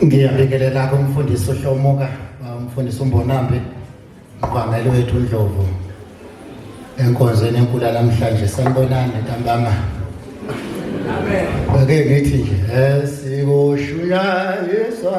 Ngiyabingelela kumfundisi uHlomuka, umfundisi uMbonambi, uMqameli wethu uNdlovu. Enkonzweni enkulu namhlanje sanibonani ntambama. Amen. Ake ngithi nje esikushuyayiswa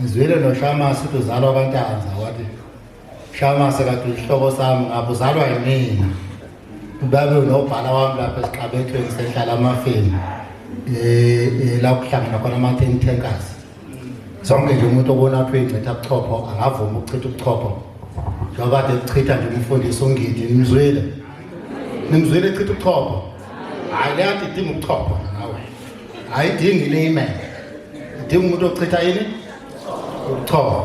ngizwile noshamasi ukuthi uzalwa kwantanza wathi shamasi kade uyihlobo sami ngapha uzalwa yimina ubabe unobhala wami lapha esiqabethweni sehlala amafeni um eh, eh, la kuhlangana khona ama-ten tankers zonke nje umuntu obona athi uyincitha ubuchopho angavumi ukuchitha ubuchopho njengoba kade kuchitha nje umfundisi ungidi nimzwile nimzwile echitha ubuchopho hhayi leyadidinga ubuchopho ayidingi lime idinga umuntu ochitha yini ukuchoma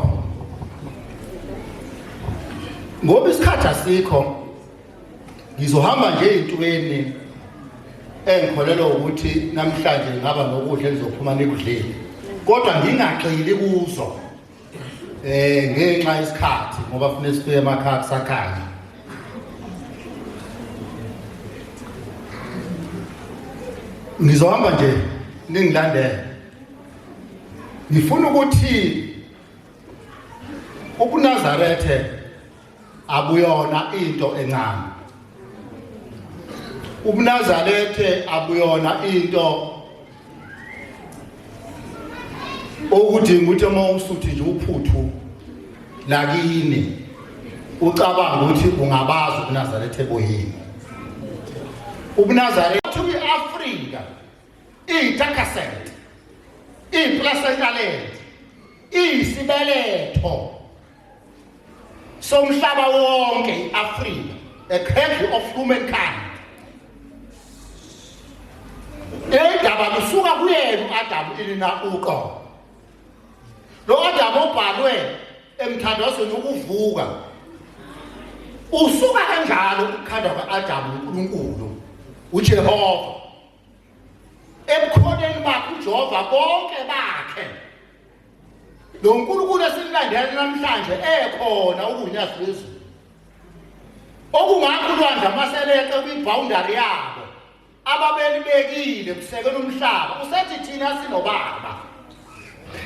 ngoba isikhathi asikho ngizohamba nje ey'ntweni engikholelwa ukuthi namhlanje ngaba nokudla engizophuma nikudlile kodwa ngingagxili kuzo eh ngenxa yesikhathi ngoba fune sifike emakhaya kusakhanya ngizohamba nje ningilandele ngifuna ukuthi ubunazarethe akuyona into encane ubunazarethe akuyona into okudinga ukuthi uma usuthi nje uphuthu lakini ucabanga ukuthi ungabazi ubunazarethe boyini ubunazarethe kwi-afrika iyitakasent iyiplasentalent iyisibeletho somhlaba wonke i-afrika a cradle of humankind indaba kusuka kuyena u-adamu ilina uqobo lo adamu obhalwe emthandazweni wokuvuka usuka kanjalo ukukhandwa kwa-adamu unkulunkulu ujehova ebukhoneni bakhe ujehova bonke bakhe lo nkulunkulu esimlandela namhlanje ekhona ukunyazi lwezulu okungakho ulwandle amaseleqe kwibhawundari yabo ababelibekile kusekela umhlaba usethi thina sinobaba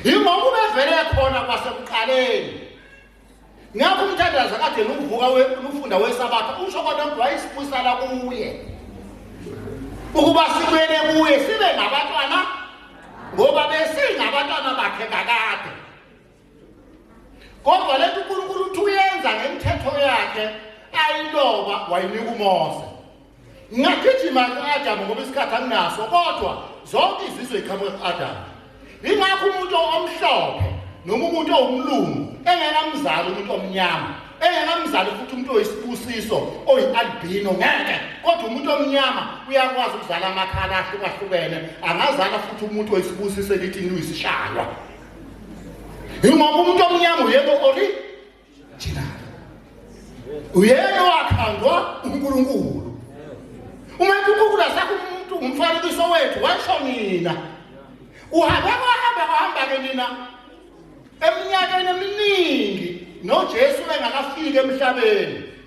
yingoba ubevele khona kwasekuqaleni ngakho umthandazo kade luvuka lufunda wesabatha usho kodwa ukuthi wayesibusala kuye ukuba sibuyele kuye sibe ngabantwana ngoba besingabantwana bakhe kakade kodwa le nto unkulunkulu uthi uyenza ngemithetho yakhe ayiloba wayinika umose Ngingagijima ku-Adamu ngoba isikhathi anginaso kodwa zonke izizwe iqhamuka ku-Adamu. Ingakho umuntu omhlophe noma umuntu owumlungu engekamzali umuntu omnyama engekamzali futhi umuntu oyisibusiso oyi-albino ngeke kodwa umuntu omnyama uyakwazi ukuzala amakhala ahlukahlukene angazala futhi umuntu oyisibusiso elithi luyisishalwa yingoba umuntu omnyama uyena ori Thina uyena wakhandwa uNkulunkulu. Uma uNkulunkulu asakho umuntu umfanekiso wethu washo mina. Uhambe kwahambe kwahamba ke nina eminyakeni eminingi noJesu engakafiki emhlabeni.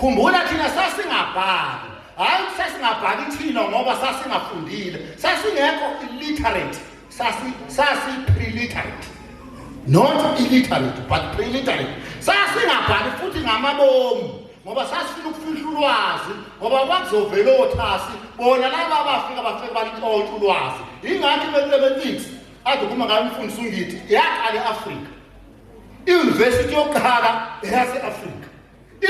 khumbula thina sasingabhali hayi sasingabhali thina ngoba sasingafundile sasingekho illiterate sasi sasi preliterate not illiterate but preliterate sasingabhali futhi ngamabomu ngoba sasifuna ukufihla ulwazi ngoba kwakuzovela othasi bona laba abafika bafike balintshontsha ulwazi ingakho i-mathematics ade kuma ngayo umfundisi ungithi yaqala e-afrika iuniversity yokuqala eyase-afrika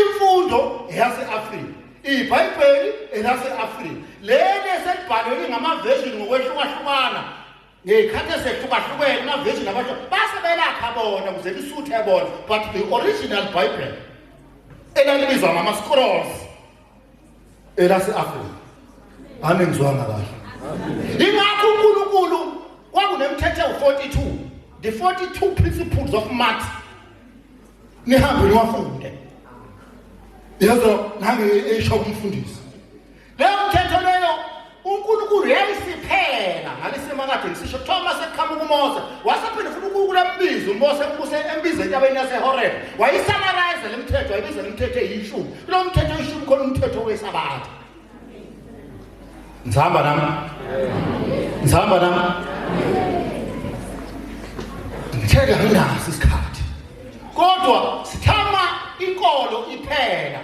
imfundo eyase-afrika ibhayibheli elase-afrika leli eselibhalwe lingamaveshini ngokwehlukahlukana ngey'khathi esehlukahlukene amaveshini abantu base belakha bona kuze lisuthe bona but the original bible elalibizwa ngama-scrolls elase-afrika ame ngizwanga kahle ingakho unkulunkulu kwakunemthetho ewu-42 the 42 principles of math nihambe niwafunde yazo nange esho kumfundisi uNkulunkulu yayisiphela ngalesemakade ngisisho kuthiwa uma sekuqhamuka umose wasephinde futhi uNkulunkulu ambize umose ubuse embize entabeni yasehorebe wayisamarayiza le mthetho wayibiza le mthetho eyishumi kulo mthetho eyishumi khona umthetho wesabatha ngihamba nami ngihamba nami ngitheka nginaso isikhathi kodwa sithama inkolo iphela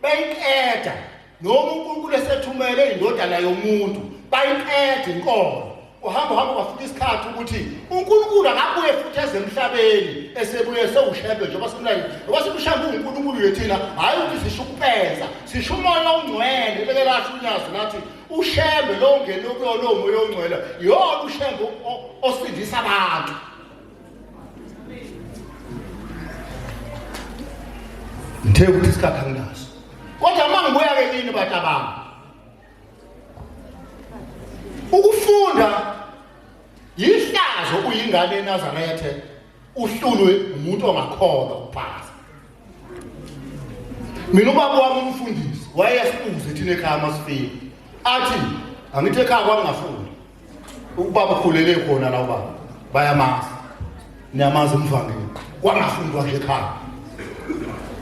bayiqeda noma uNkulunkulu esethumele indodana yomuntu bayiqeda inkomo uhamba uhamba kwafika isikhathi ukuthi uNkulunkulu akabuye futhi eze emhlabeni esebuye sewushebe njengoba simlayo ngoba simshamba uNkulunkulu yethina hayi ukuthi sisho ukupeza sisho umoya ongcwele beke lasho unyazi nathi ushembe lo ngene kuyona omoya ongcwele yona ushembe osindisa abantu ngithe ukuthi isikhathi anginaso kodwa uma ngibuya-ke kini batabanga ukufunda yihlazo uyingane enazarethe uhlulwe umuntu ongakholwa ukuphasa mina ubaba wami umfundisi wayeyasibuze thina ekhaya masifika athi angithi ekhaya kwami ngafunda ukuba bakhulele khona la ubaba bayamazi niyamazi umvangeli kwangafundwa nje ekhaya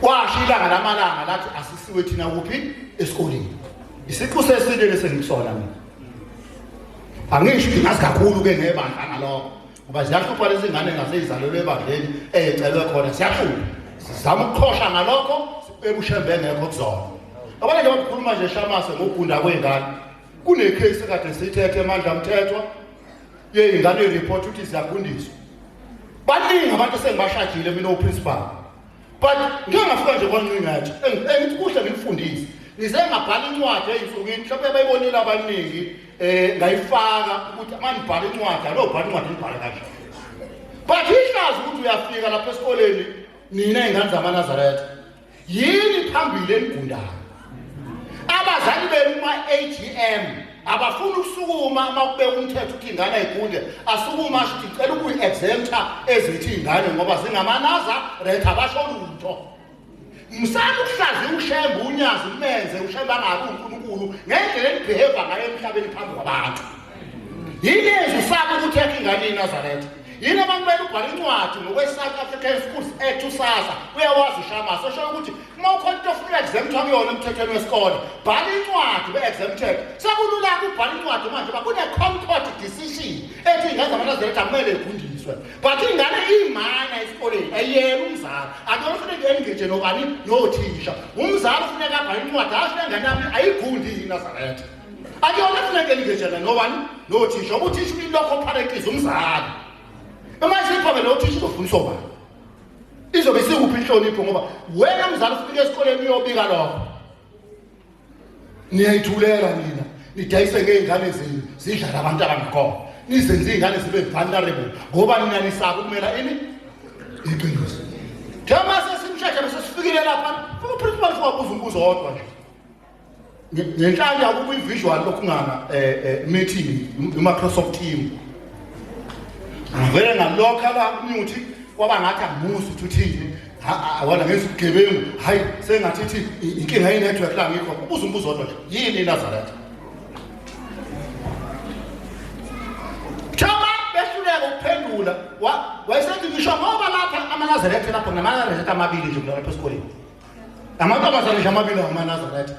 kwasho ilanga lamalanga lathi asisiwe thina kuphi esikoleni isiqu seside lesengikusona mina angisho ukuthi ngazi kakhulu ke ngebandla ngalokho ngoba ziyahlupha lezi ngane ngaseyizalelwe ebandleni eyecelwe khona siyahlupha sizama ukuqhosha ngalokho ebushembe ngekho kuzona abanye nje bakhuluma nje shamase ngokugunda kwengane Kunecase kade sithethe emandla mthethwa yeyingane ireport ukuthi ziyagundiswa. Baningi abantu sengibashajile mina uprincipal. But ngeke ngafika nje kwancingathi engithi kuhle ngikufundise. Ngize ngabhala incwadi eyinsukwini mhlawumbe bayibonile abaningi eh ngayifaka ukuthi manibhala incwadi alo bhala incwadi nibhala kanje. But ihlazo ukuthi uyafika lapha esikoleni nina ingane zamaNazaretha yini phambili enigundayo abazali benu ma-agm abafuni ukusukuma uma kubeka umthetho ukuthi ingane ayigunde asukuma asho ukuthi ngicela ukuyi-exempta ezithi iy'ngane ngoba zingamanaza ret abasho lutho msana ukuhlaziya ushembe unyazi umenze ushembe angabi unkulunkulu ngendlela enibheheva ngayo emhlabeni phambi kwabantu yini enzi usaba ukuthi yakhe ingane inazaretha yini abantu benu ubhala incwadi ngokwe-south african schools act usasa uyawazi ushamasa oshoyo ukuthi uma ukhona into ofuna u-exempt akuyona emthethweni wesikole bhala incwadi be-exempted sekululaka ubhala incwadi manje uba kune-concord decision ethi ingenza abantu azeleti akumele egundiswe but ingane iyimana esikoleni ayiyela umzali akuyona ufuneka engage nobani nothisha umzali ufuneka abhala incwadi asho le ngane yami ayigundi yini azaletha akuyona funeke lingejana nobani nothisha ubuthisha ulimi lwakho opharekhiza umzali uma isiphame lo thisha uzofundisa obani izobe sikuphi inhlonipho ngoba wena mzali ufike esikoleni uyobika lokho niyayithulela nina nidayise ngey'ngane zenu zidlala abantu abangakhona nizenze iy'ngane zibe vulnerable ngoba nina nisaba ukumela ini iqiniso njengoba sesimsheshe bese sifikile lapha uprincipal siwabuza umbuzo wodwa nje ngenhlanya kukwi-visual lokungana um eh, eh, meeting i-microsoft team ngivele ngalokha la umuthi kwaba ngathi angimusi ukuthi uthini awona ngenza ubugebengu hhayi sengathi ithi inkinga ye-network la ngikho ubuza umbuzo odwa nje yini inazaretha thoma behluleka ukuphendula wayesethi ngisho ngoba lapha amanazaretha lapho ngamanazaretha amabili nje kulapha esikoleni amantombazane nje amabili ngomanazaretha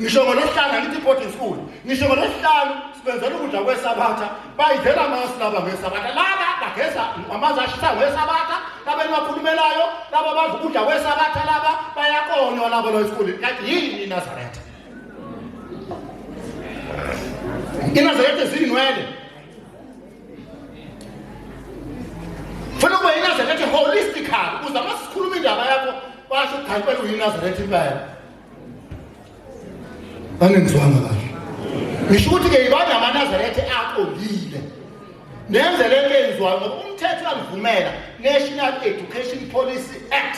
ngisho ngolosihlanu angithi i-boarding school ngisho ngolosihlanu sibenzela ukudla kwesabatha bayidlela amasu laba ngesabatha laba bageza amanzi ashisa ngesabatha laba elibakhulumelayo laba badla ukudla kwesabatha laba bayakonywa laba lo esikoleni kanti yini inazaretha inazaretha zinwele funa ukuba yinazaretha holistical ukuze uma sikhuluma indaba yakho basho ukuthi hayi kwela uyinazaretha impela angenzwanga kahle ngisho ukuthi-ke yibani amanazaretha aqondile nenze le nto eyenziwayo ngoba umthetho uyangivumela national education policy act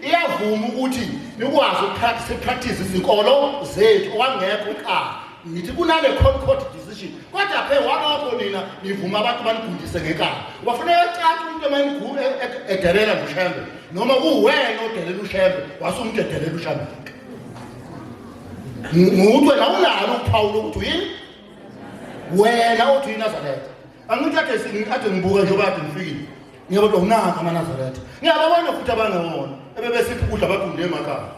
iyavuma ukuthi nikwazi ukupractice izinkolo zethu okwangekho uqala ngithi kunale court court decision kodwa phe walokho nina nivuma abantu banigundise ngekala wafuneka ecathi umuntu emayinigule e- e- edelela ushembe noma kuwena odelela ushembe wasumdedelela ushembe nguwe nawunalo uphawu lokuthi uyini wena othi uyinazaletha angithi ade ade ngibuka njengoba ade ngifikile ngiyabo kodwa unaka amanazaretha ngiyababona futhi abangewona ebebesiphi ukudla bagunde emakhaya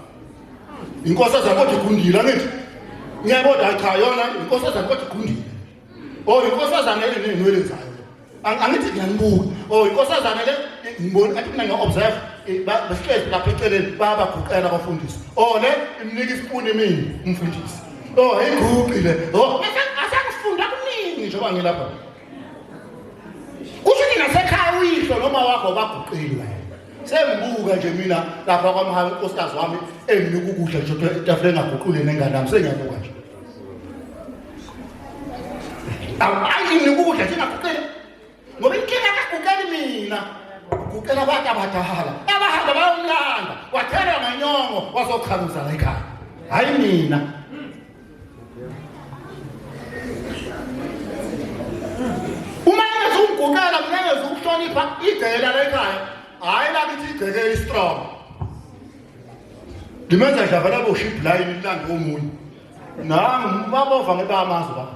inkosi ezakodwa igundile angithi ngiyabodwa cha yona inkosi ezakodwa igundile o oh, inkosi ezanele neynwele zayo angithi ngiyanibuka o oh, inkosi ezanele ngibona athi mina ngiya-observe eh, basihlezi lapha eceleni bayabaguqela abafundisi o oh, le imnika isipuni mina umfundisi Oh, ayiguqi le. Oh, asakufunda kuningi njengoba ngilapha. Kusho ukuthi nasekhaya uyihlo noma wakho baguqile wena. Sengibuka nje mina lapha kwamhanga unkosikazi wami enginika ukudla nje kodwa itafule engaguqule nengane yami sengiyabuka nje. Awu ayi nginika ukudla nje engaguqile. ngoba inkinga kagukeli mina uguqela abantu abadala abahamba bayomlanda wathelwa nganyongo wazokhaluza la ekhaya hhayi mina uma engeza ukugukela mina engeza ukuhlonipha igcekela la ekhaya hhayi lakithi igcekela istrong ngimenza nje avela boshibhulayini ilande omunye nangu babova ngebamazwi bami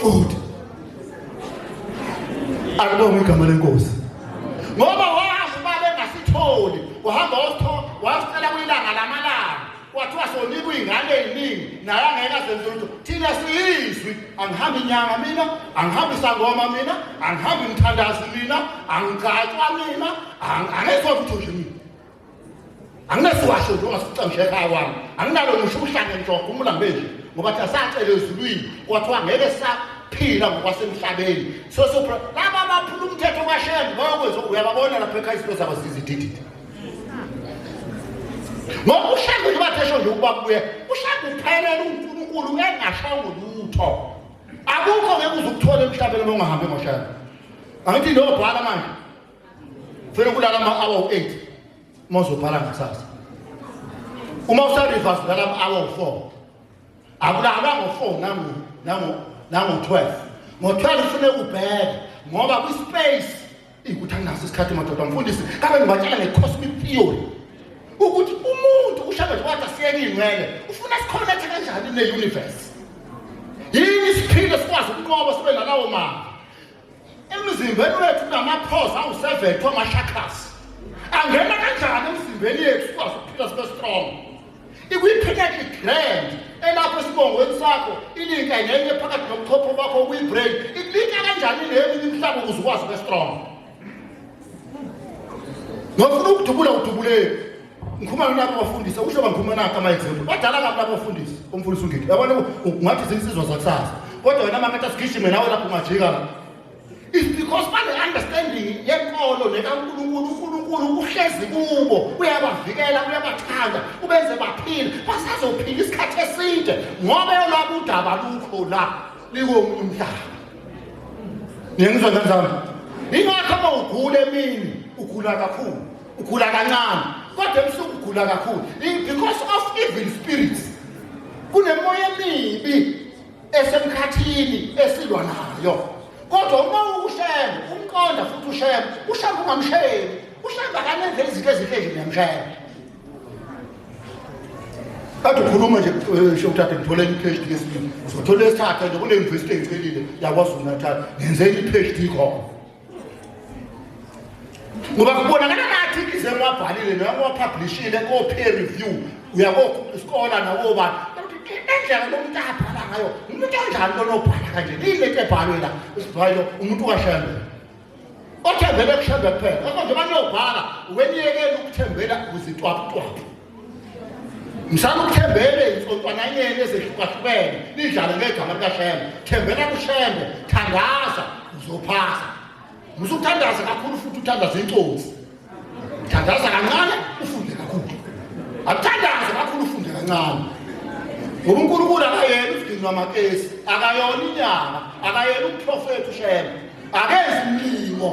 futhi alibonge igama lenkosi ngoba wazi uba bengasitholi wahamba wasicela kwilanga lamalanga kwathiwa sonika uyingane eyiningi naye angeke azenze lutho thina siyizwi angihambi inyanga mina angihambi isangoma mina angihambi mthandazi mina angigcatshwa mina angezokuthunje mina anginesiwasho nje ongasiqamshe ekhaya kwami anginalo ngisho uhlane njogo umulambeji ngoba thina sacele ezulwini kwathiwa ngeke saphila ngokwasemhlabeni so so laba baphula umthetho kwashembe bayokwenza uyababona lapha ekhaya izinto zabo zizidididi ngoba ushaka nje bathe esho nje ukuba kubuye ushaka uphelele unkulunkulu engashongo lutho akukho ngeke uze ukuthole emhlabeni uma ungahambi ngoshaka angithi nobhala manje Funa ukulala ama hour u8 uma uzobhala ngakusasa. Uma usa reverse ulala ama hour u4. Akulala ngo4 nangu nangu nangu 12. Ngo12 ufune ubheke ngoba kwi space ikuthi anginaso isikhathi madoda mfundisi kabe ngibatshela nge cosmic theory ukuthi umuntu ushaka nje wathi asiyeke ingcwele ufuna sikhonethe kanjani ne universe yini isiphile sikwazi ukunqoba sibe nalawo mama Emzimbeni wethu kunamaphoza awu-70 ama-chakras. Angena kanjani emzimbeni yethu sikwazi ukuphila sibe strong? Ikwi-pineal gland elapho esibongweni sakho ilinka ngenye phakathi nobuchopho bakho okuyi-brain ilinka kanjani neminye imihlaba ukuze ukwazi ube strong. Ngofuna ukudubula udubuleki. ngikhuluma nabo abafundisi usho bangikhuluma nakho ama-example badala kabi labo bafundisi umfundisi ungiki yabona ungathi zinsizwa zakusasa kodwa wena maketha sigijime nawe lapho ungajika la is because bane-understanding yenkolo nekankulunkulu unkulunkulu uhlezi kubo uyabavikela uyabathanda ubenze baphile basazophila isikhathi eside ngoba yolwabo udaba lukho la likomunye umhlaba niyengizwa kanjani ingakho uma ugula emini ugula kakhulu ukhula kancane kodwa ebusuku ugula kakhulu because of evil spirits kunemoya emibi esemkhathini esilwa nayo kodwa uma ushembe umqonda futhi ushembe ushembe ungamshembi ushembe akanenze izinto ezinhle nje niyamshembe kade ukhuluma nje eh, shokuthatha ngithola enye iphd yesibili uzothola esithatha nje kule yunivesithi engicelile yakwazulu natal ngenze enye iphd khona ngoba kubonakala ngathi ize ngwabhalile noma ngwapublishile ko-peer review uyakoskola nawobani endlela lomuntu abhala ngayo umuntu onjani lonobhala kanje lile nto ebhalwe la usivayo umuntu washembe othembele kushembe kuphela ngakho njengoba niyobhala weniyekela ukuthembela kuzitwaputwapu msana ukuthembele insontwananyeni ezehlukahlukene nidlale ngegama likashembe thembela kushembe thandaza uzophasa musukuthandaza kakhulu futhi uthandaza incosi thandaza kancane ufunde kakhulu akuthandaze kakhulu ufunde kancane ngoba unkulunkulu akayena usidinwa amakesi akayona inyanga akayena umprofethi ushembe akenzi mlimo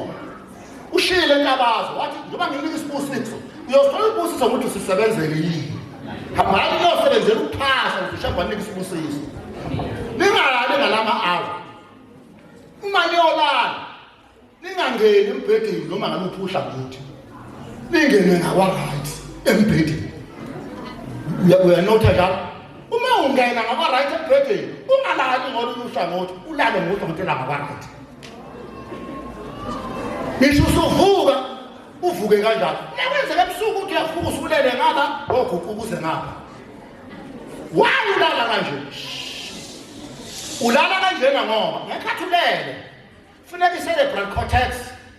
ushile intabazo wathi njengoba nginika isibusiso uyosithola isibusiso ukuthi usisebenzele yini hambani niyosebenzela ukuphasa ngishamba nike isibusiso ningalali ngalama awa uma niyolala ningangeni embhedeni noma ngaluphi uhlangothi ningene ngakwa-right embhedeni uyanotha njalo uma ungena ngakwa-right embhedeni ungalali ngolunye uhlangothi ulale ngohlangothi langakwa-right ngisho usuvuka uvuke kanjalo nakwenzeka ebusuku uthi uyavuka usulele ngaba oguquka uze ngapha why ulala kanje ulala kanjena ngoba ngekhathi ulele funeka i-cerebral cortex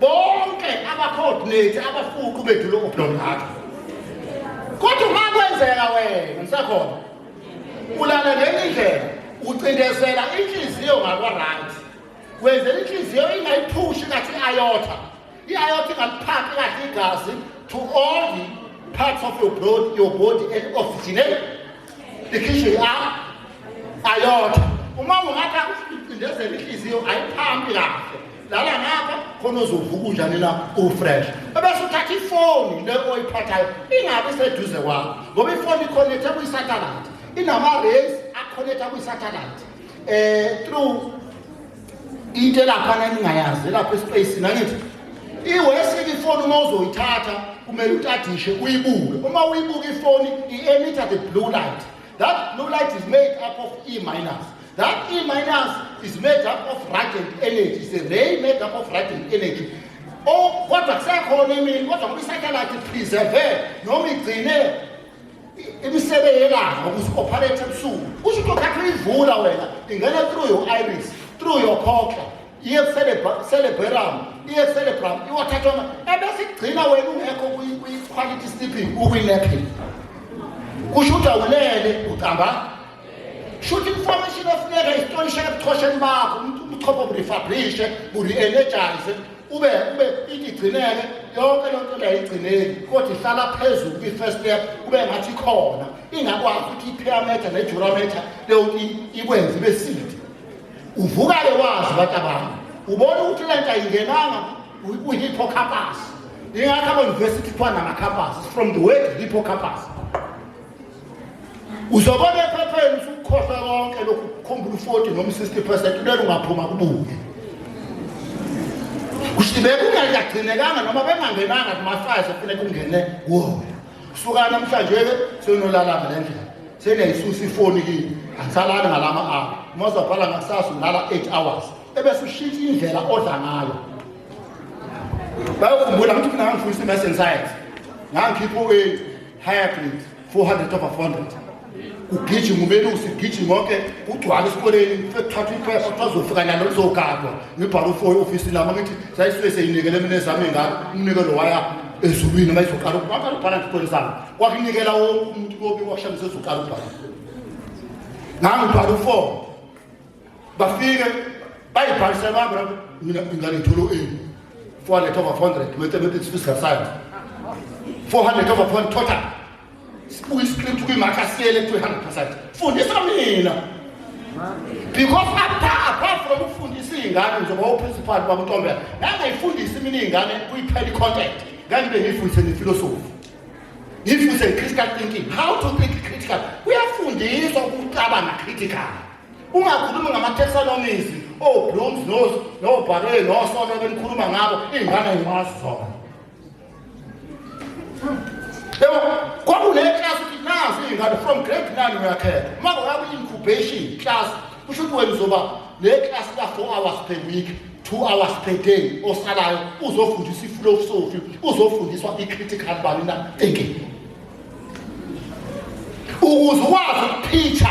bonke abacoordinate abafuqu bethu lokho blomhaka kodwa uma kwenzeka wena usakhona ulala ngenye indlela ucindezela inhliziyo ngakwa-right wenzela inhliziyo ingayiphushi kathi i-ayotha i-ayotha ingaliphakhi kahle igazi to all the parts of your body, your body and originate ikhishwe i-ayotha uma ungatha ucindezela inhliziyo ayiphambi kahle lala ngapha khona ozovuka unjani la ufresh ebese uthatha ifoni le oyiphathayo ingabe iseduze kwakho ngoba ifoni ikhonethe kwisatellite inama-rays akhonetha kwisatellite um eh, through into elaphana ningayazi elapha espacini angithi iwesike ifoni uma uzoyithatha kumele utadishe uyibuke uma uyibuka ifoni i-emita the blue light that blue light is made up of e-minus That E minus is made up of radiant energy. It's a ray made up of radiant energy. Oh, kodwa kusekhona emini kodwa ngoba isatellite ipreserve noma igcine imisebe yelanga ukuthi operate ebusuku kusho ukuthi okhathi uyivula wena ingena through your iris through your cochlea iye kucelebram iye kucelebram iwathathoma ebese igcina wena ungekho kwi-quality sleeping ukwi-napping kusho ukuthi awulele ucamba shuthi information ofuneka isitolisha ebuchosheni bakho umuntu ubuchopho burefabrishe buri-energize ube ube itigcineke yonke loo nto ndayigcineki kodwa ihlala phezulu kwi-first step kube ngathi khona ingakwazi ukuthi i-pyrameter ne-jurameter leyo nto ikwenze ibe sidi uvuka-ke wazi abantu abantu ubona ukuthi le nto ayingenanga kwi-hippocampus ingakho ama-university kuthiwa nama-campus from the word hippocampus uzobona ephepheni usukukhohlwa konke lokhu kukhumbula u-40 noma u-60 percent ulele ungaphuma kubuke kushibe kungakagcinekanga noma bengangenanga kuma-five efune kungene kuwona suka namhlanje-ke senolalanga le ndlela seneyisusa ifoni kini angisalali ngalama hour uma uzabhala ngakusasa ulala eight hours ebese ushintsha indlela odla ngayo bayokhumbula ngithi mina ngangifundisa i-mass and science ngangikhipha u-eight higher grade 400 over 400 kugijima umelusi kugijima konke kugcwala esikoleni sekuthathwa iphepha kuthiwa zofika nalo lizogadwa ngibhala ufo e-ofisini lami ngithi sayisuke seyinikele mina ezami engalo umnikelo waya ezulwini uma izoqala ukubhala ukubhala ngesikole sami kwakunikela wonke umuntu kobi kwakushamisa ezoqala ukubhala ngangibhala ufo bafike bayibhalise baba mina ingane ngithola u-a 400 over 400 mathematics physical science 400 over 400 total sibuka iscript kwimark asiyele ku-100 percent fundisa mina because apha apart from ukufundisa iy'ngane njengoba uprincipal babutombela ngangayifundisi mina iy'ngane kuyiphela i-contact ngangibe ngiyifundise nefilosofi ngiyifundise nge-critical thinking how to think critical kuyafundiswa ukucabanga critical Ungakhulumi ngamaThesalonis, oBlooms nos noBhare nosona benikhuluma ngabo ingane ngimazi zona. Yebo, kwakune class class ingane from grade 9 uyakhetha. Uma uyabe incubation class kusho ukuthi wena uzoba le class ka 4 hours per week. two hours per day osalayo uzofundisa ifilosofi uzofundiswa i-critical bani na thinking ukuze ukwazi ukuphitha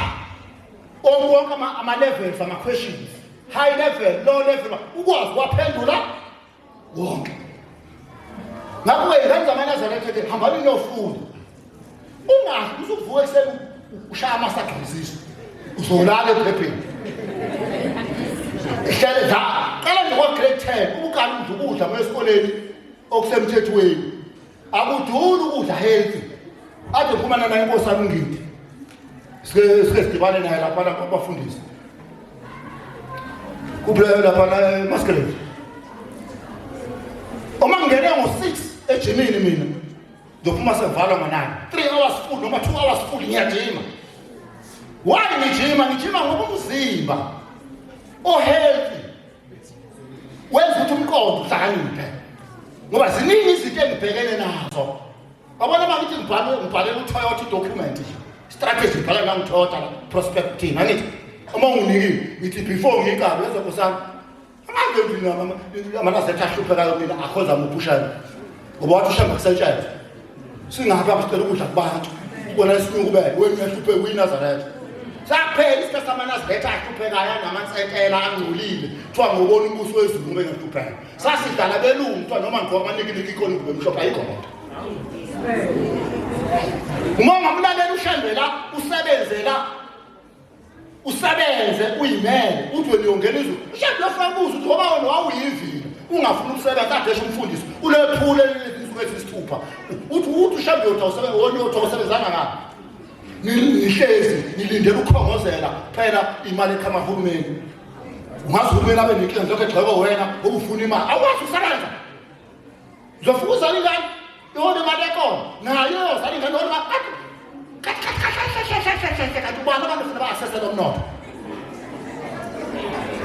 Onke ama levels ama questions high level low level ukwazi waphendula wonke ngakho ingane zamaNazaretha ke hambani niyofunda ungazi usuvuka ekuseni ushaya amasagqiziso uzolala ephepheni ihlale la qala nje kwa-grade ten ubukala udla ukudla kwesikoleni okusemthethweni akuduli ukudla healthy ade phuma nana inkosi yami ngidi sike sike sidibane naye lapha lapha abafundisi kuphela lapha na maskeleni uma ngingene ngo-6 ejimini mina ngiyophuma sevalwa ngo-9 3 hours full noma 2 hours full ngiyajima why ngijima ngijima ngoba umzimba ohealthy wenza ukuthi umqondo uhlakaniphe ngoba ziningi izinto engibhekene nazo wabona uma ngithi ngibhale ngibhalela utoyota idocument strategy ngibhala la ngitoyota prospect team angithi uma unginikile ngithi before ngiqabe lezo kusami angabe nginamanazekhe ahluphekayo mina akhoza muphushana ngoba wathi ushamba kusetshenzwa singapha msicela ukudla kubantu ubona isilungu bene wena uyahluphe uyinazaretha saphela isikhathi samanazaretha ahluphekayo anamansetela angcolile kuthiwa ngobona umbuso wezulu ngoba engahlupheka sasidlala belungu kuthiwa noma ngigqoka amanikiliki ikhona ingube emhlophe ayikho lento uma ungamlalela ushembela usebenzela usebenze uyimele uthi wena uyongena izulu ushade lofuna kubuza ukuthi ngoba wena wawuyivila ungafuni ukusebenza adeshe umfundisi ulephule izinsuku ezisithupha uthi uthi ushade yotha usebenza wona yotha usebenzanga ngapha nihlezi nilindele ukukhongozela phela imali eqhama hulumeni ungazi uhulumeni abe nenkinga lokho egxekwa wena obufuna imali awukwazi usebenza Uzofuka uzala ingane ihona imali ekhona nayo yozala ingane ihona imali kanti ubani abantu funa ba-asesele umnotho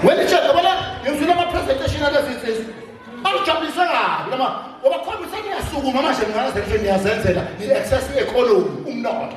wena itshela bona ngizwile ama-presentation alezi nsizwa angijabulise kabi lama ngoba khombe seniyasukuma manje ninganazelishwe niyazenzela ni-access i-economy umnotho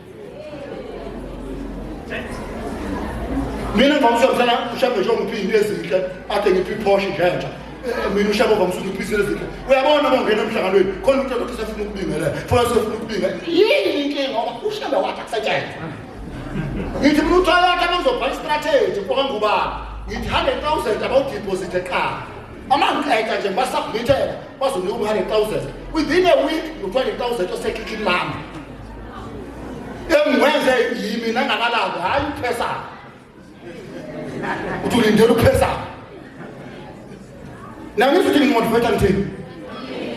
mina ngivamisa mhlana ushabe nje ongiphi into ezinhle ade ngiphi iphoshe njenja mina ushabe ovamisa ukuthi ngiphi izinto ezinhle uyabona uma ungena emhlanganweni khona umuntu othi usefuna ukubingelela funa usefuna ukubinga yini inkinga ngoba ushabe wathi akusetshenzwa ngithi mina uthwala wakhe abangizobhala istrategy kwakangubaba ngithi 100000 abawudiphosithe qala uma ngiqeda nje ngibasakumitela bazonika u-100 000 within a week ngu-20 000 osekhikhini lami engikwenze yimi nangakalanga hayi uphesa uthi ulindele uphesa nami futhi ngimotivate ngithini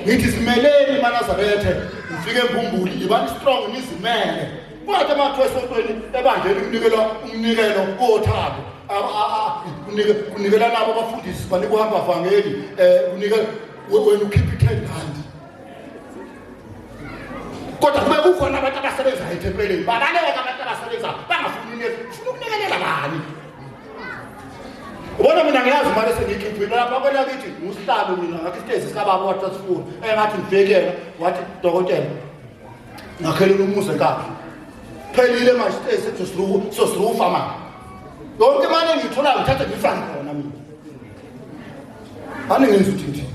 ngithi zimeleni manazarethe ngifike embumbuli ngibani strong nizimele kwathi amathu esontweni ebandleni kunikela umnikelo kothabo kunikela nabo abafundisi banikuhamba vangeli um eh, kunikela wena ukhiphe i-ten rand kodwa kube kukhona abantu abasebenzayo ethempeleni babaleke abantu abasebenzayo bangafuni imiyezo funa ukulekelela bani ubona mina ngiyazi imali esengiyikhiphile lapha kwena kithi ngusihlalo mina ngakho isitezi sikababa wathi asifuni engathi ngibhekela wathi dokotela ngakhelela umuzi enkakhe phelile manje isitezi sesizozirufa manje yonke imali engiyitholayo ngithathe ngiyifane khona mina aningenzi ukuthi ngithini